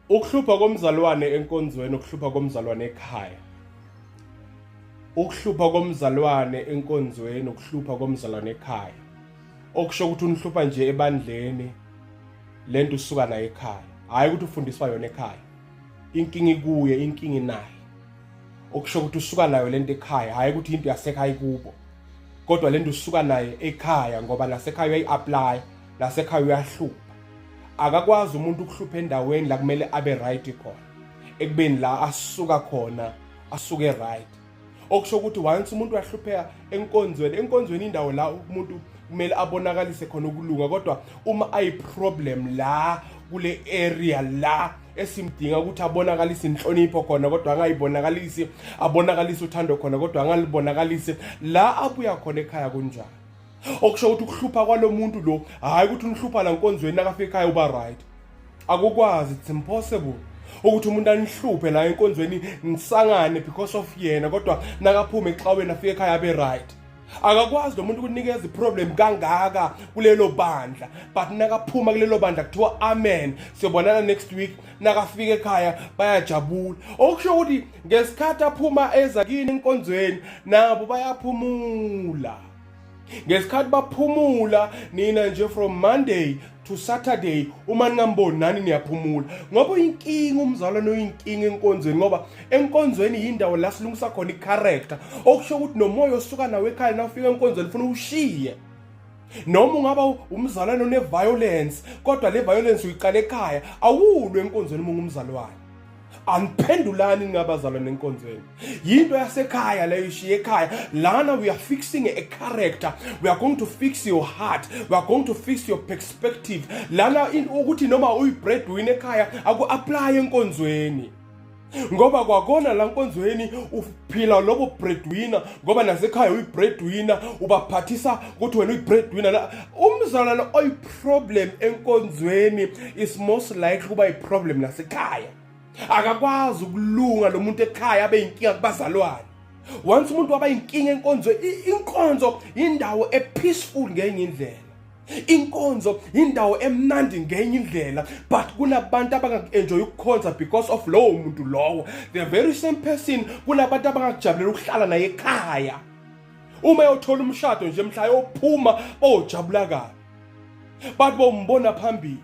Ukuhlupha komzalwane enkonzweni ukuhlupha komzalwane ekhaya. Ukuhlupha komzalwane enkonzweni ukuhlupha komzalwane ekhaya. Okusho ukuthi unihlupha nje ebandleni lento usuka nayo ekhaya. Hayi ukuthi ufundiswa yona ekhaya. Inkinga ikuye, inkinga naye. Okusho ukuthi usuka nayo lento ekhaya, hayi ukuthi into yasekhaya kubo. Kodwa lento usuka naye ekhaya ngoba nasekhaya uyayi-apply, nasekhaya uyahlupha. akakwazi umuntu ukuhlupha endaweni la kumele abe right khona ekubeni la asuka khona asuke right okusho ukuthi once umuntu wahlupheka enkonzweni enkonzweni indawo la umuntu kumele abonakalise khona ukulunga kodwa uma ayi problem la kule area la esimdinga ukuthi abonakalise inhlonipho khona kodwa angayibonakalisi abonakalise uthando khona kodwa angalibonakalise la abuya khona ekhaya kunjani okusho ukuthi ukuhlupha kwalo muntu lo hhayi ukuthi unihlupha la nkonzweni nakafika ekhaya uba right akukwazi it's impossible ukuthi umuntu anihluphe la enkonzweni nisangane because of yena kodwa nakaphume exaweni afike ekhaya abe right akakwazi lo muntu ukunikeza iproblem kangaka kulelo bandla but nakaphuma kulelo bandla kuthiwa amen siyobonana next week nakafika ekhaya bayajabula okusho ukuthi ngesikhathi aphuma eza kini enkonzweni nabo bayaphumula ngesikhathi baphumula nina nje from monday to saturday uma ningamboni nani niyaphumula ngoba uyinkinga umzalwane oyinkinga enkonzweni ngoba enkonzweni yindawo la silungisa khona icharacter okusho ukuthi nomoya osuka nawo ekhaya nawufika enkonzweni funa ushiye noma ungaba umzalwane oneviolence kodwa le violence uyiqala ekhaya awulwe enkonzweni uma ungumzalwane aniphendulani ningabazalwane enkonzweni yinto yasekhaya leyo ishiye ekhaya lana we are fixing a character we are going to fix your heart we are going to fix your perspective lana ukuthi noma uyi-breadwin ekhaya aku-aplaye enkonzweni ngoba kwakona la nkonzweni uphila lobo breadwinner ngoba nasekhaya uyi-breadwinner ubaphathisa ukuthi wena uyi-breadwinner umzalwane oyi problem enkonzweni is most likely kuba iproblem nasekhaya akakwazi ukulunga lo muntu ekhaya abe yinkinga kubazalwane once umuntu waba yinkinga enkonzo inkonzo indawo epeaceful ngenye indlela inkonzo indawo emnandi ngenye indlela but kunabantu abangakuenjoy ukukhonza because of lowo muntu lowo the very same person kunabantu abangakujabulela ukuhlala naye ekhaya uma eyothola umshado nje mhla yophuma bojabula kabi bathi bombona phambili